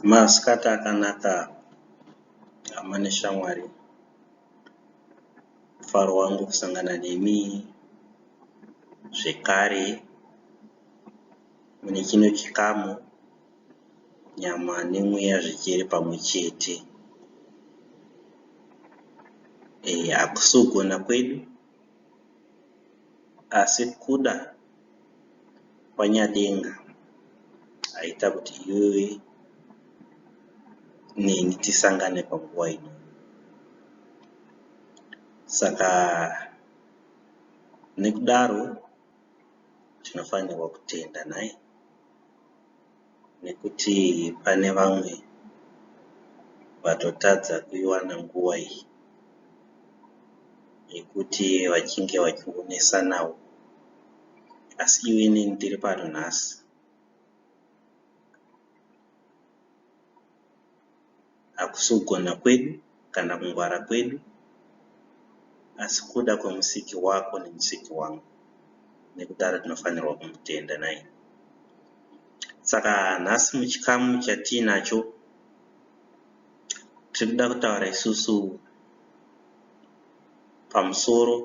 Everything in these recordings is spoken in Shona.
Masikati akanaka hama neshamwari, mufaro wangu kusangana nemi zvekare. Mune chino chikamu, nyama nemweya zvichiri pamwe chete. Ehe, hakusi kugona kwedu, asi kuda kwaNyadenga aita kuti iwewe neni tisangane panguva ino. Saka nekudaro. tinofanirwa kutenda nhai nekuti pane vamwe vatotadza kuiwana nguva iyi yekuti vachinge vachingonesanawo asi iwe neni tiri pano nhasi. Hakusi kugona kwedu kana kungwara kwedu, asi kuda kweMusiki wako neMusiki wangu, nekudaro tinofanirwa kumutenda. Nhaimi? Saka nhasi, muchikamu chatiinacho, tiri kuda kutaura isusu pamusoro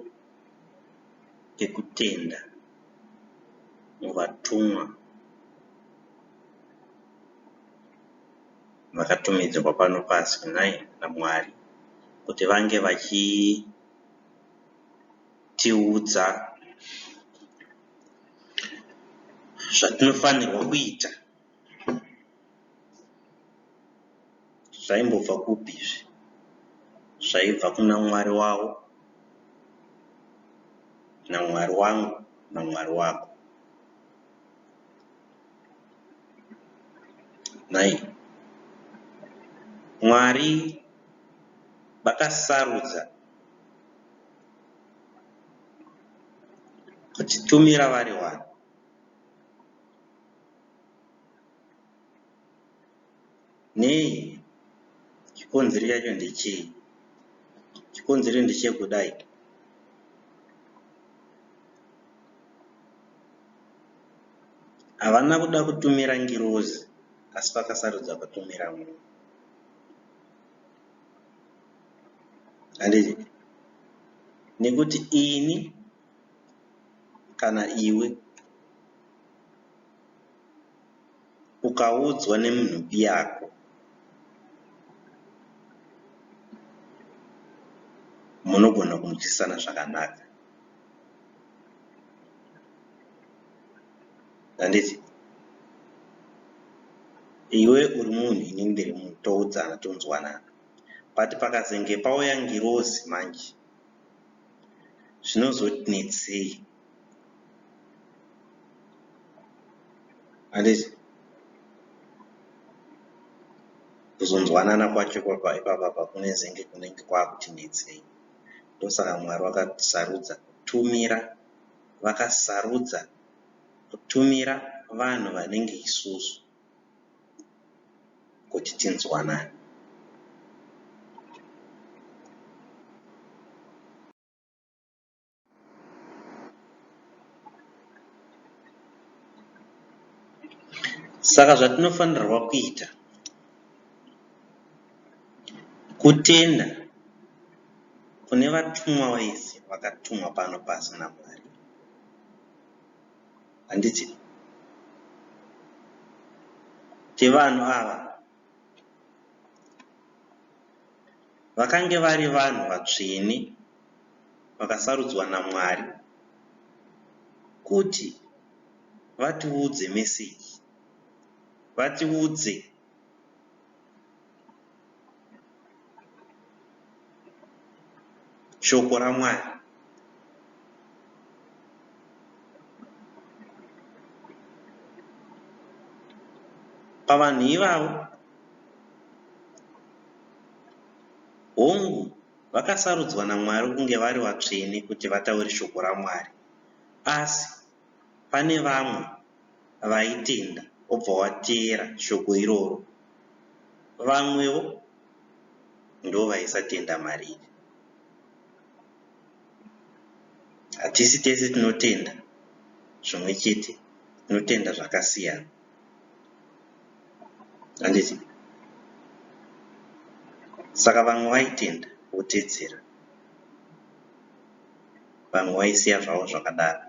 pekutenda muvatumwa. vakatumidzirwa pano pasi nhai naMwari kuti vange vachitiudza zvatinofanirwa kuita zvaimbobva kupi izvi zvaibva kuna mwari wavo namwari wangu namwari wako Nhai. Mwari vakasarudza kutitumira vari wani. Nei? Chikonzero chacho ndechei? Chikonzero ndechekudai. Havana kuda kutumira ngirozi, asi vakasarudza kutumira munhu. Handiti? Nekuti ini kana iwe ukaudzwa nemunhu biyako munogona kunzwisisana zvakanaka handiti iwe uri munhu ini ndiri munhu toudzana tonzwanana but pakazenge pauya ngirozi manje zvinozonetsei handiti kuzonzwanana kwacho kwapa ipapa pakune zenge kunenge kwakuti netsei ndosaka mwari vakasarudza kutumira vakasarudza kutumira vanhu vanenge isusu kuti tinzwanane Saka zvatinofanirwa kuita kutenda kune vatumwa vese vakatumwa pano pasi naMwari. Handiti kuti vanhu ava Vakange vari vanhu vatsvene vakasarudzwa naMwari kuti vatiudze message, vatiudze. Shoko raMwari. Pavanhu ivavo, hongu, vakasarudzwa naMwari kunge vari vatsvene kuti vataure Shoko raMwari, asi. Pane vamwe vaitenda wobva wateera shoko iroro. Vamwewo ndovaisatenda Mwari iri. Hatisi tese tinotenda zvimwe chete, tinotenda zvakasiyana. Handiti? Saka vamwe vaitenda wotedzera. vanhu waisiya zvavo zvakadaro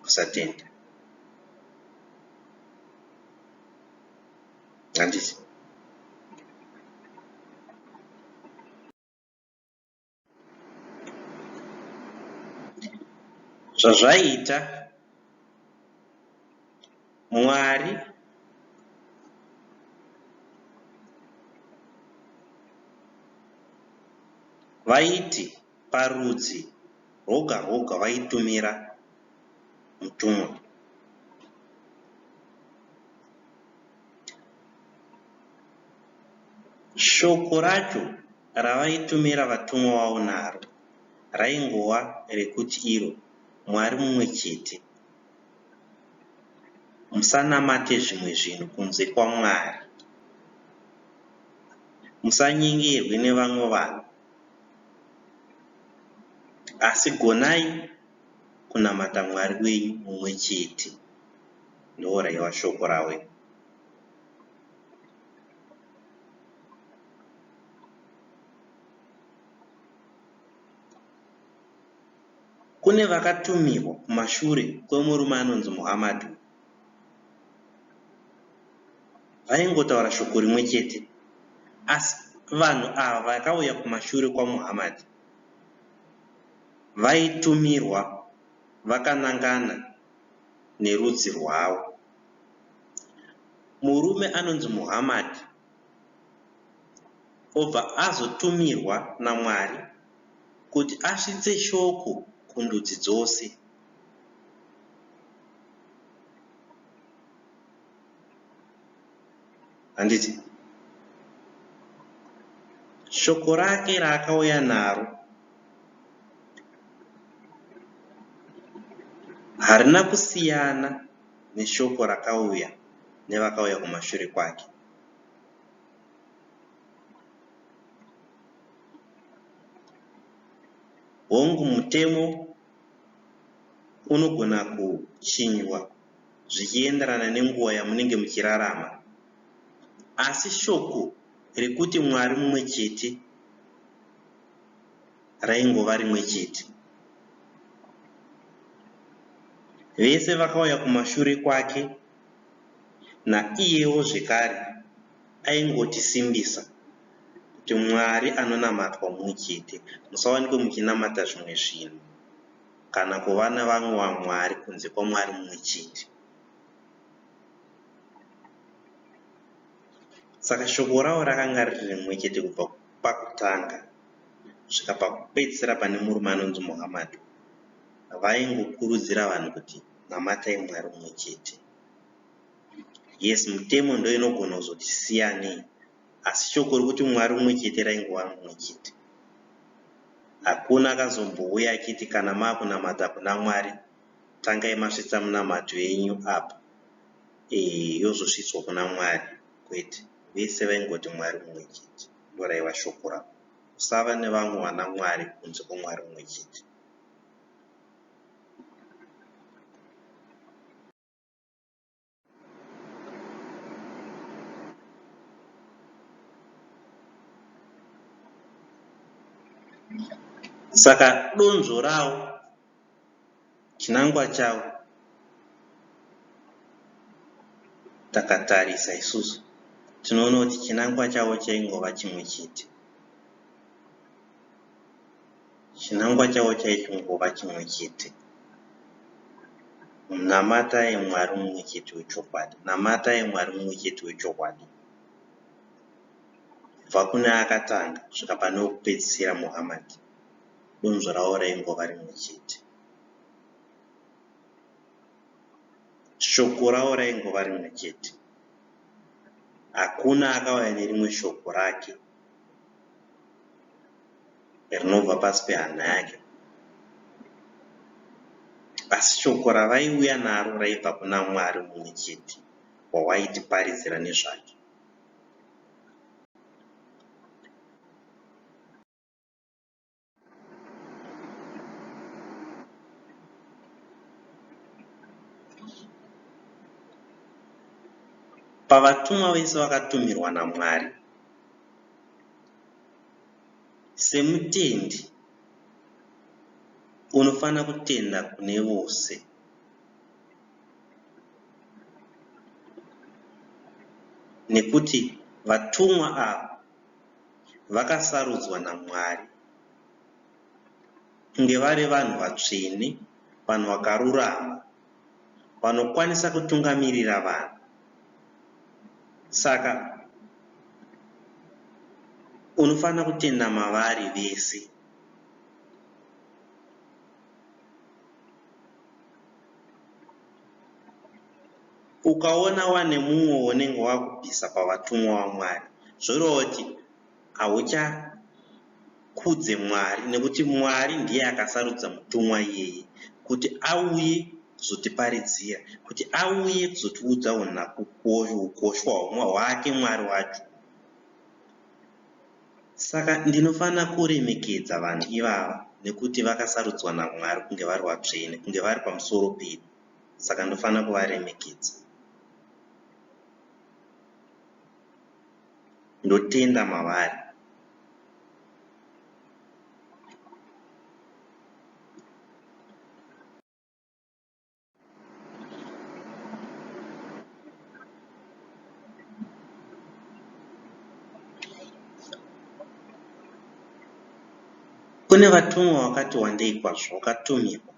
kusatenda handiti zvazvaiita Mwari vaiti parudzi rwoga rwoga vaitumira mutumwa. Shoko racho ravaitumira vatumwa vavo naro raingova rekuti iro Mwari mumwe chete. Musanamate zvimwe zvinhu kunze kwaMwari. Musanyengirwe nevamwe vanhu. Asi gonai kunamata Mwari wenyu mumwe chete. Ndooraiwa shoko raWe. Kune vakatumirwa kumashure kwemurume anonzi Muhammad uyu, vaingotaura shoko rimwe chete. Asi vanhu ava vakauya kumashure kwaMuhammad vaitumirwa vakanangana nerudzi rwavo. Murume anonzi Muhammad. obva azotumirwa naMwari kuti asvitse shoko kundudzi dzose. Handiti? Shoko rake raakauya naro harina kusiyana neshoko rakauya nevakauya kumashure kwake. Hongu, mutemo unogona kuchinjwa zvichienderana nenguva yamunenge muchirarama. Asi shoko rekuti Mwari mumwe chete raingova rimwe chete. Vese vakauya kumashure kwake. Naiyewo zvekare aingotisimbisa kuti Mwari anonamatwa mumwe chete, musawanikwe muchinamata zvimwe zvinhu kana kuva nevamwe vamwari kunze kwaMwari mumwe chete. Saka shoko ravo rakanga riri rimwe chete kubva pakutanga kusvika pakupedzisira pane murume anonzi Muhammad. Vaingokurudzira vanhu kuti. namatai Mwari umwe chete. Yes mutemo ndoinogona kuzoti siyanei asi shoko rekuti Mwari umwe chete raingova mumwe chete. Hakuna akazombouya achiti kana makunamata kuna Mwari tangai masvitsa munamato yenyu apa ee yozosvitswa kuna Mwari kwete vese vaingoti Mwari umwe chete ndoraiva shoko ravo kusava nevamwe vana Mwari kunze kweMwari umwe chete. Saka donzvo rawo chinangwa chawo takatarisa isusu tinoona kuti chinangwa chawo chaingova chimwe chete. Chinangwa chavo chaitongova chimwe chete, Namatai Mwari mumwe chete wechokwadi. Namatai Mwari mumwe chete wechokwadi. Kubva kune akatanga kusvika pane wekupedzisira, Muhammad, donzvo ravo raingova rimwe chete. Shoko ravo raingova rimwe chete. Hakuna akauya nerimwe shoko rake rinobva pasi pehana yake. Asi shoko ravaiuya naro raibva kuna Mwari mumwe chete wawaitiparidzira nezvake. Pavatumwa vese vakatumirwa naMwari, semutendi unofanira kutenda kune vose. Nekuti vatumwa ava vakasarudzwa naMwari kunge vari vanhu vatsvene, vanhu vakarurama, vanokwanisa kutungamirira vanhu. Saka unofanira kutenda mavari vese. Ukaona wane mumwe waunenge wakubvisa pavatumwa vaMwari zvoreva kuti hauchakudze Mwari nekuti Mwari ndiye akasarudza mutumwa iyeye kuti auye kuzotiparidzira, kuti auye kuzotiudza ukoshwa hwake Mwari wacho. Saka ndinofanira kuremekedza vanhu ivava, nekuti vakasarudzwa naMwari kunge vari vatsvene, kunge vari pamusoro pedu. Saka ndofanira kuvaremekedza. Ndotenda mavari. Kune vatumwa vakati wandei kwazvo vakatumirwa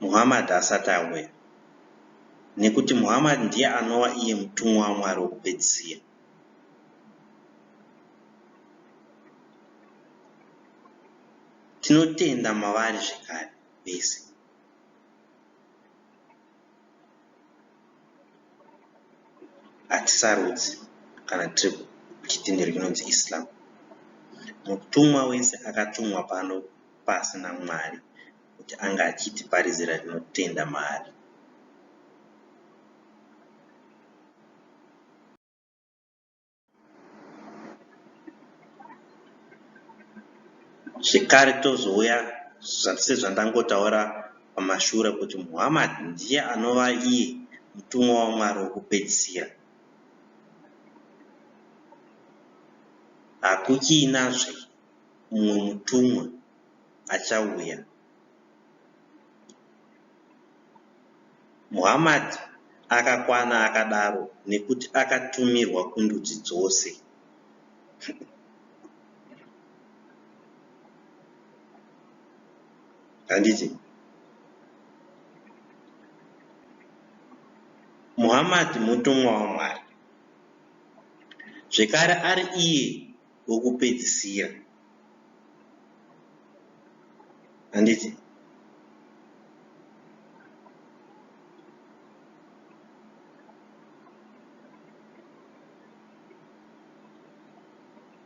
Muhammad asati auya, nekuti Muhammad ndiye anova iye mutumwa waMwari wokupedzisira. Tinotenda mavari zvekare vese. Hatisarudzi kana tiri kuchitendero chinonzi Islam. Mutumwa wese akatumwa pano pasi naMwari kuti anga achitiparidzira tinotenda maari. zvekare tozouya sezvandangotaura pamashure kuti muhammad ndiye anova iye mutumwa wamwari wokupedzisira hakuchiinazve mumwe mutumwa achauya Muhammad akakwana akadaro nekuti akatumirwa kundudzi dzose. Handiti? Muhammad mutumwa waMwari. Zvekare ari iye wokupedzisira. Handiti?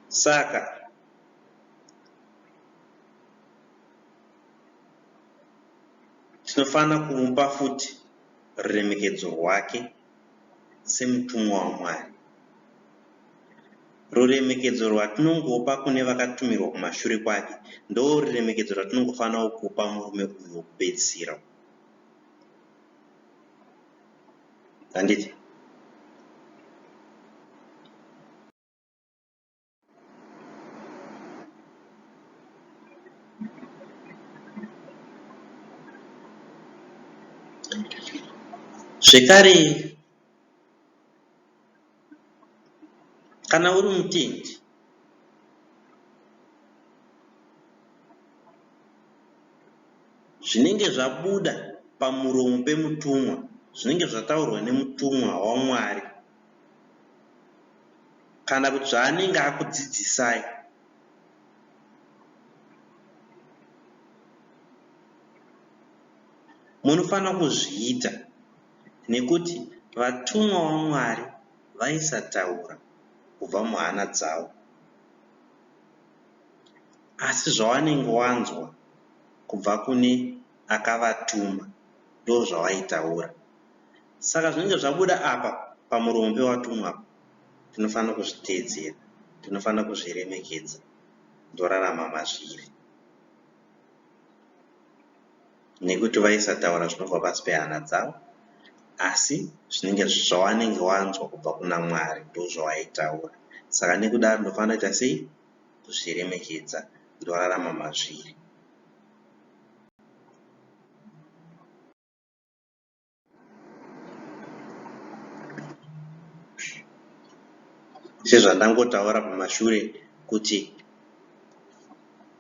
Saka tinofanira kumupa futi ruremekedzo rwake. semutumwa waMwari. Ruremekedzo rwatinongopa kune vakatumirwa kumashure kwake ndoruremekedzo rwatinongofanirawo kupa murume uyu wokupedzisira. Handiti? Zvekare, kana uri mutendi, zvinenge zvabuda pamuromo pemutumwa, zvinenge zvataurwa nemutumwa waMwari. kana kuti zvaanenge akudzidzisai. Munofanira kuzviita nekuti vatumwa vaMwari vaisataura kubva muhana dzavo. Asi zvawanenge wanzwa kubva kune akavatuma ndozvawaitaura. Saka zvinenge zvabuda apa pamuromo pewatumwa apa, tinofanira kuzviteedzera, tinofanira kuzviremekedza, ndorarama mazviri. Nekuti vaisataura zvinobva pasi pehana dzavo, asi zvinenge zvawanenge wanzwa kubva kuna Mwari ndozvawaitaura. Saka nekudaro ndinofanira kuita sei? Kuzviremekedza, ndorarama mazviri. sezvandangotaura kumashure kuti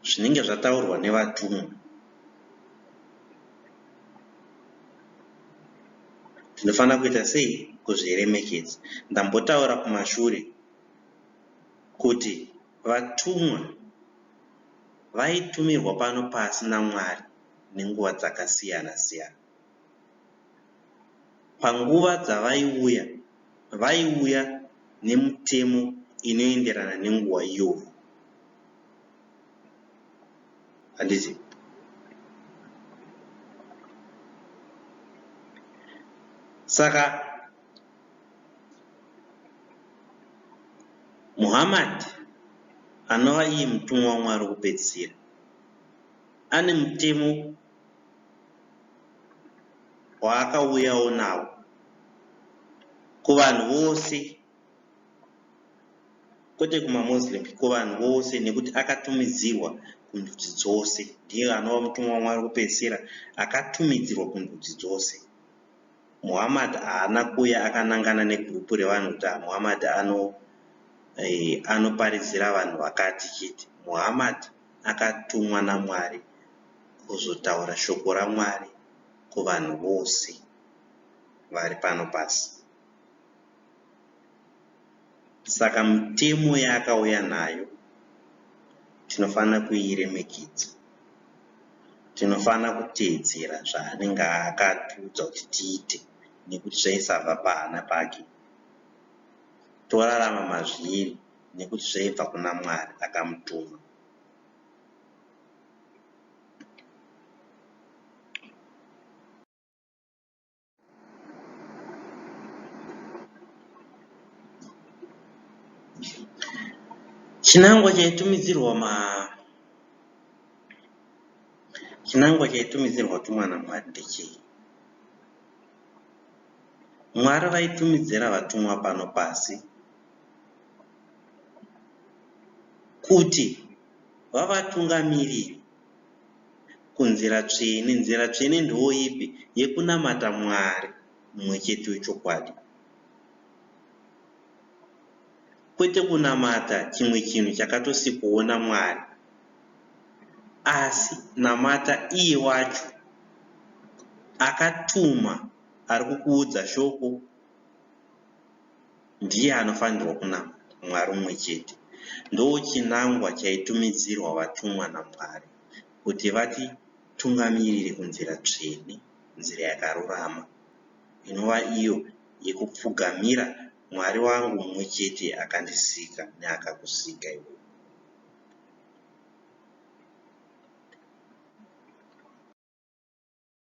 zvinenge zvataurwa nevatumwa tinofanira kuita sei kuzviremekedza ndambotaura kumashure kuti vatumwa vaitumirwa pano pasi namwari nenguva dzakasiyana-siyana. Panguva dzavaiuya, vaiuya nemitemo inoenderana nenguva iyoyo. Handiti? Saka Muhammad anova iye mutumwa waMwari wokupedzisira. ane mutemo waakauyawo nawo kuvanhu vose kwete kumamuslim kuvanhu vose nekuti akatumidzirwa kundudzi dzose ndiye anova mutumwa wamwari kupedzisira akatumidzirwa kundudzi dzose muhammad haana kuuya akanangana negrupu revanhu kuti ah, muhammad ano eh, anoparidzira vanhu vakati chete muhammad akatumwa naMwari kuzotaura shoko raMwari kuvanhu vose vari pano pasi. Saka mitemo yaakauya nayo tinofanira kuiremekedza. Tinofanira kuteedzera zvaanenge akatiudza kuti tiite nekuti zvaisabva pahana pake torarama mazviri. nekuti zvaibva kuna Mwari akamutuma. Chinangwa chaitumidzirwa ma chinangwa chaitumidzirwa tumwana Mwari ndechei? Mwari vaitumidzira vatumwa pano pasi kuti vavatungamirire kunzira tsvene. Nzira tsvene ndooipi? Yekunamata Mwari mumwe chete wechokwadi, kwete kunamata chimwe chinhu chakatosikwawo naMwari, asi namata iye wacho akatuma ari kukuudza shoko. ndiye anofanirwa kunamata Mwari umwe chete. Ndochinangwa chaitumidzirwa vatumwa naMwari kuti vatitungamirire kunzira tsvene, nzira yakarurama, inova iyo yekupfugamira Mwari wangu mumwe chete akandisika neakakusika iwewe.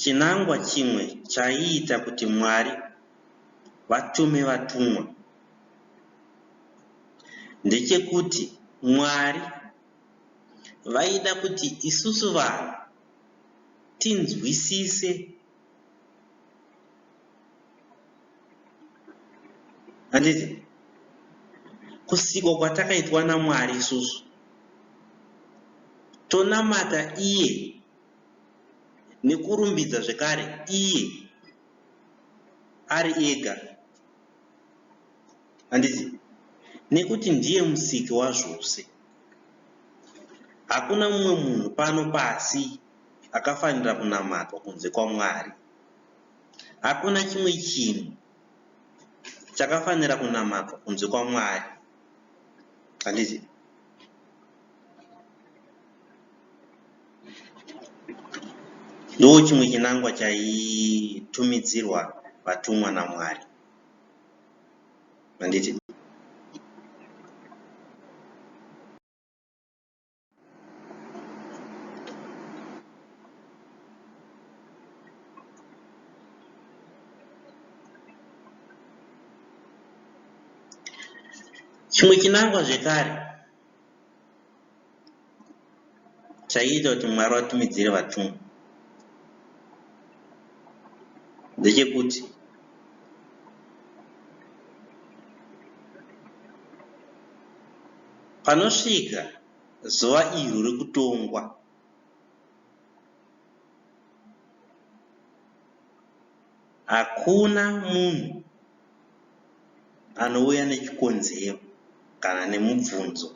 Chinangwa chimwe chaiita kuti Mwari vatume vatumwa ndechekuti Mwari vaida kuti isusu vanhu tinzwisise handiti kusikwa kwatakaitwa namwari isusu tonamata iye nekurumbidza zvekare iye ari ega handiti nekuti ndiye musiki wazvose hakuna mumwe munhu pano pasi akafanira kunamatwa kunze kwamwari Hakuna chimwe chinhu chakafanira kunamatwa kunze kwaMwari. Handiti? Ndiwo chimwe chinangwa chaitumidzirwa vatumwa naMwari. Handiti? chimwe chinangwa zvekare chaiita kuti mwari vatumidzire vatumwa ndechekuti Panosvika zuva iro rekutongwa, hakuna munhu anouya nechikonzero kana nemubvunzo.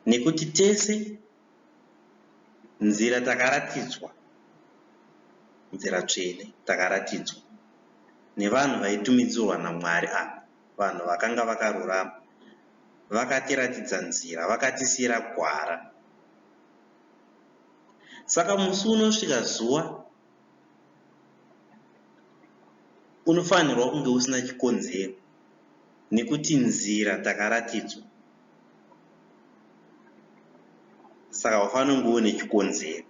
Nekuti tese nzira takaratidzwa nzira tsvene takaratidzwa nevanhu vaitumidzirwa naMwari ava vanhu vakanga vakarurama vakatiratidza nzira vakatisiira gwara saka musi unosvika zuva unofanirwa kunge usina chikonzero nekuti nzira takaratidzwa saka haufaniri kunge une chikonzero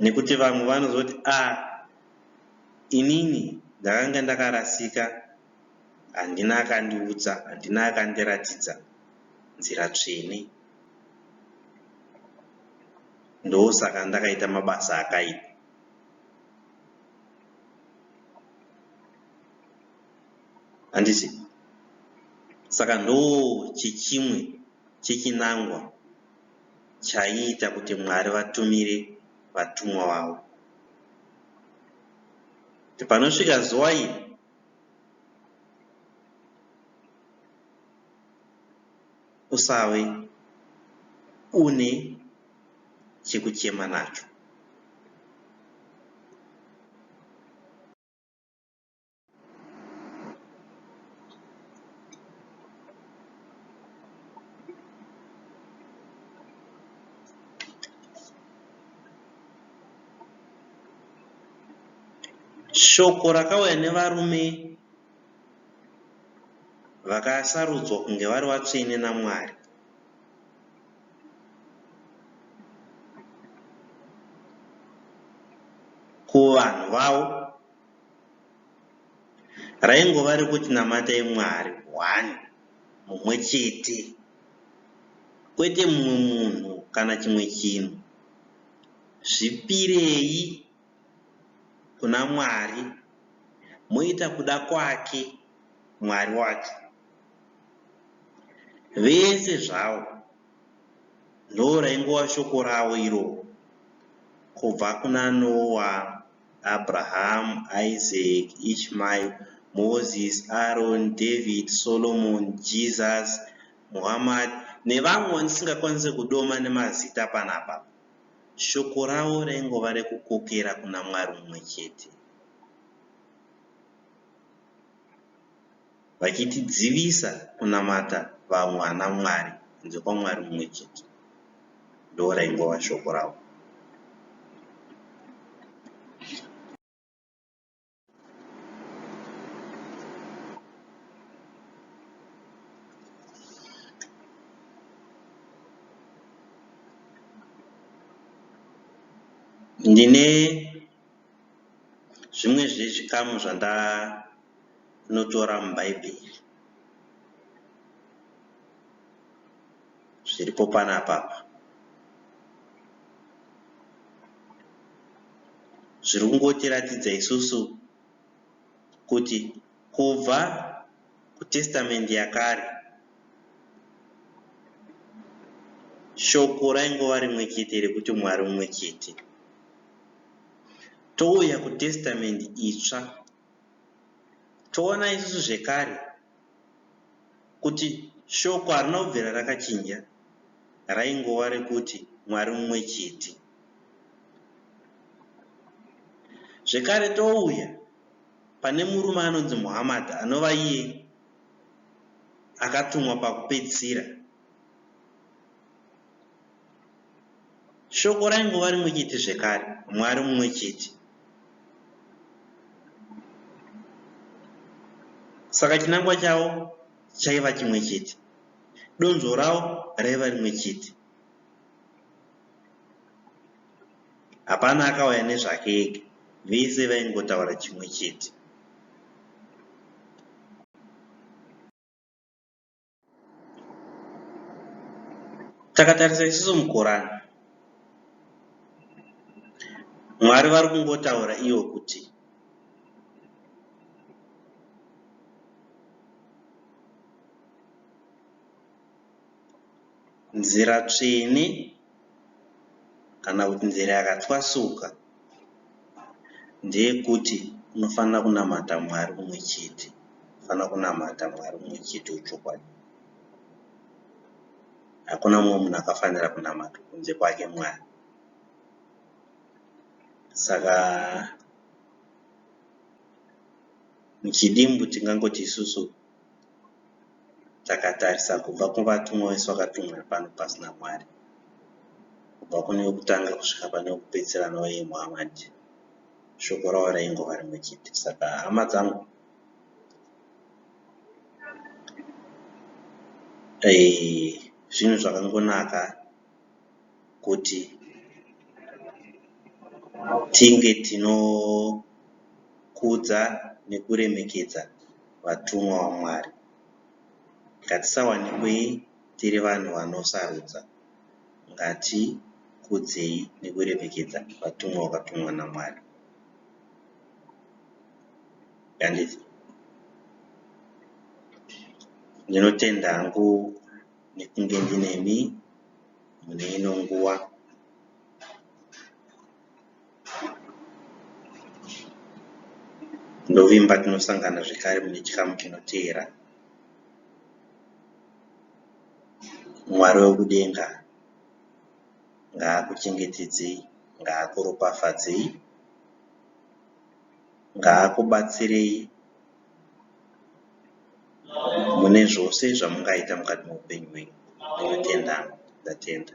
nekuti vamwe vanozoti a ah, inini ndakanga ndakarasika handina akandiudza handina akandiratidza nzira tsvene ndosaka ndakaita mabasa akaipa handiti saka ndo chichimwe chechinangwa chaiita kuti mwari vatumire vatumwa vavo kuti panosvika zuva iri usave une chekuchema nacho. Shoko rakauya nevarume vakasarudzwa kunge vari vatsvene naMwari. kuvanhu vavo raingova rekuti namatai mwari one mumwe chete kwete mumwe munhu kana chimwe chinhu zvipirei kuna mwari moita kuda kwake mwari wacho Vese zvawo ndoraingova shoko ravo iroro kubva kuna Noa, Abraham, Isaac, Ishmael, Moses, Aaron, David, Solomon, Jesus, Muhammad nevamwe vandisingakwanise kudoma nemazita panapa. Shoko ravo raingova rekukokera kuna Mwari mumwe chete. vachitidzivisa kunamata vamwe ana Mwari kunze kwaMwari mumwe chete. Ndoo raingova shoko ravo. Ndine zvimwe zvezvikamu zvandanotora muBhaibheri zviripo panapa apa. Zviri kungotiratidza isusu kuti Kubva kuTestamente Yakare, Shoko raingova rimwe chete rekuti Mwari mumwe chete. Touya kuTestamente Itsva, toona isusu zvekare kuti Shoko harina kubvira rakachinja, raingova rekuti Mwari mumwe chete. Zvekare touya. pane murume anonzi Muhammad anova iye akatumwa pakupedzisira. Shoko raingova rimwe chete zvekare, Mwari mumwe chete. Saka chinangwa chavo chaiva chimwe chete, donzvo ravo raiva rimwe chete. Hapana akauya nezvake ega, vese vaingotaura chimwe chete. Takatarisa isusu muKorani. Mwari vari kungotaura ivo kuti nzira tsvene kana kuti nzira yakatwasuka ndeyekuti unofanira kunamata Mwari umwe chete. Unofanira kunamata Mwari umwe chete wechokwadi. Hakuna mumwe munhu akafanira kunamatwa kunze kwake Mwari. Saka muchidimbu tingangoti isusu. takatarisa kubva kuvatumwa vese vakatumira pano pasi naMwari, kubva kune wekutanga kusvika pane wekupedzisira anova iye Muhamadi, shoko ravo raingova rimwe chete. Saka hama dzangu, eh, zvinhu zvakangonaka. kuti tinge tinokudza nekuremekedza vatumwa vaMwari. Ngatisawanikweyi tiri vanhu vanosarudza. Ngatikudzei nekuremekedza vatumwa vakatumwa naMwari. Ndinotenda hangu. nekunge ndinemi mune ino nguva. Ndovimba tinosangana zvekare mune chikamu chinoteera. Mwari wekudenga ngaakuchengetedzei, ngaakuropafadzei, ngaakubatsirei. mune zvose zvamungaita mukati meupenyu hwenyu ndinotenda ndatenda